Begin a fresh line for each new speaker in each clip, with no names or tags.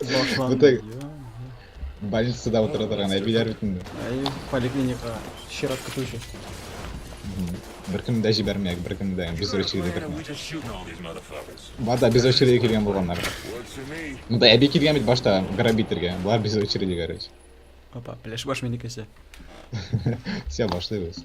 Башланды. Бу тег- дию.
Больницада утыра торган әбиләр бит инде. Әй, поликлиника
чират көтү өчен.
Беркемне дә җибәрмәяк, беркемне дә без очередь итәрме?
Бар да без очередь
килгән булганнар.
Монда әби килгән бит башта
грабительгә. Болар без очередь, короче. Опа, пляж
баш минекесе.
Все, башлыйбыз.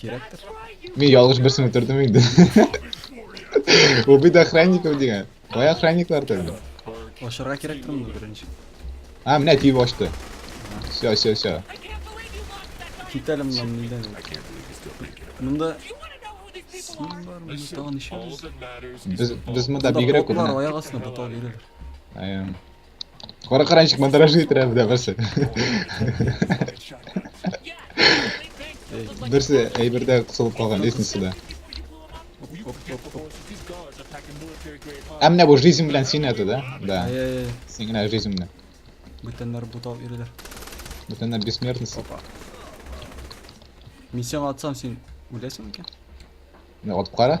Кирәктер.
Мин ялгыш
берсен үтердем инде. Убить охранников дигән. Кая охранниклар тәлде? Ашырга
кирәктер моны беренче. А, менә
тиеп ачты. Все, все, все. Кит
әле моннан нидән. Монда син бар, монда тагын ишелер. Без
без монда бигрәк күп.
Аяк астына бутал бирер.
Аян. Кара
каранчык мандражы иттерә бездә берсе. Берсе әйбердә кысылып калган лестницада. Ә менә бу жизнь белән син это, да? Да. Ай-яй-яй. Син генә
жизнь белән.
Бүтәннәр
бутал йөриләр. Бүтәннәр
бессмертность. Опа.
Мин сиңа атсам, син үләсең икән? Мин атып
кара.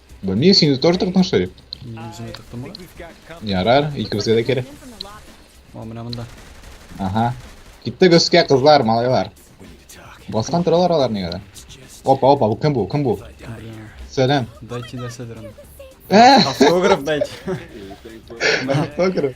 Бо мин сине
тоже так отношусь. Үземә тыктым
ла. Ярар,
икебезгә дә кирәк.
О, менә
монда. Ага.
Киттек өскә, кызлар, малайлар. Баскан торалар алар нигә дә. Опа, опа,
бу кем
бу? Кем бу?
Сәлам.
Дайте нәрсә
дөрен.
Автограф
дайте.
Автограф.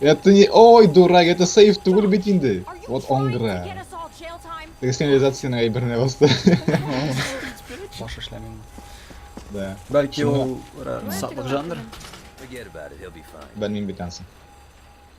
Это не...
Ой, дурак, это сейф түгел бит инде. Вот он гра.
Теге сигнализацияның әйберенә
басты.
Баш эшләмим. Да.
Бәлки ул
сатлык жандыр.
Белмим бит ансын.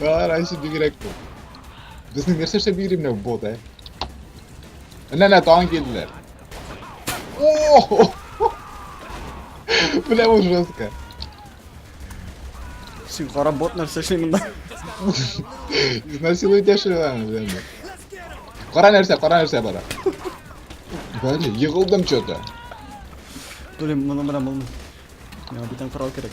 Ара
иши бигрәк бу. Безнең нәрсә эшләп йөри менә бот, ә? Менә нә тагын килделәр. О! Бля, бу жестко.
Син кара бот нәрсә эшли монда? Изнасилует
яшерәләр инде. Кара нәрсә, кара нәрсә бара. Бәле, егылдым чөтә.
Блин, моны менә булмый. Миңа бүтән корал кирәк.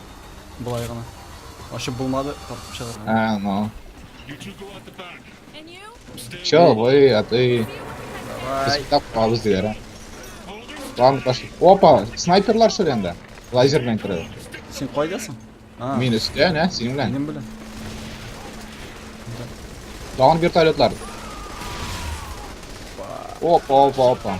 Болай гына. Ачып булмады, тартып чыгарган. А, ну.
Все,
вы,
а ты...
Давай.
Тап кабыз диләр,
а. Ладно, пошли. Опа, снайперлар шул янда. Лазер белән керә. Син кайдасың?
А. Мин өстә, нә, синең
белән. Минем белән. Тагын вертолетлар. Опа, опа, опа.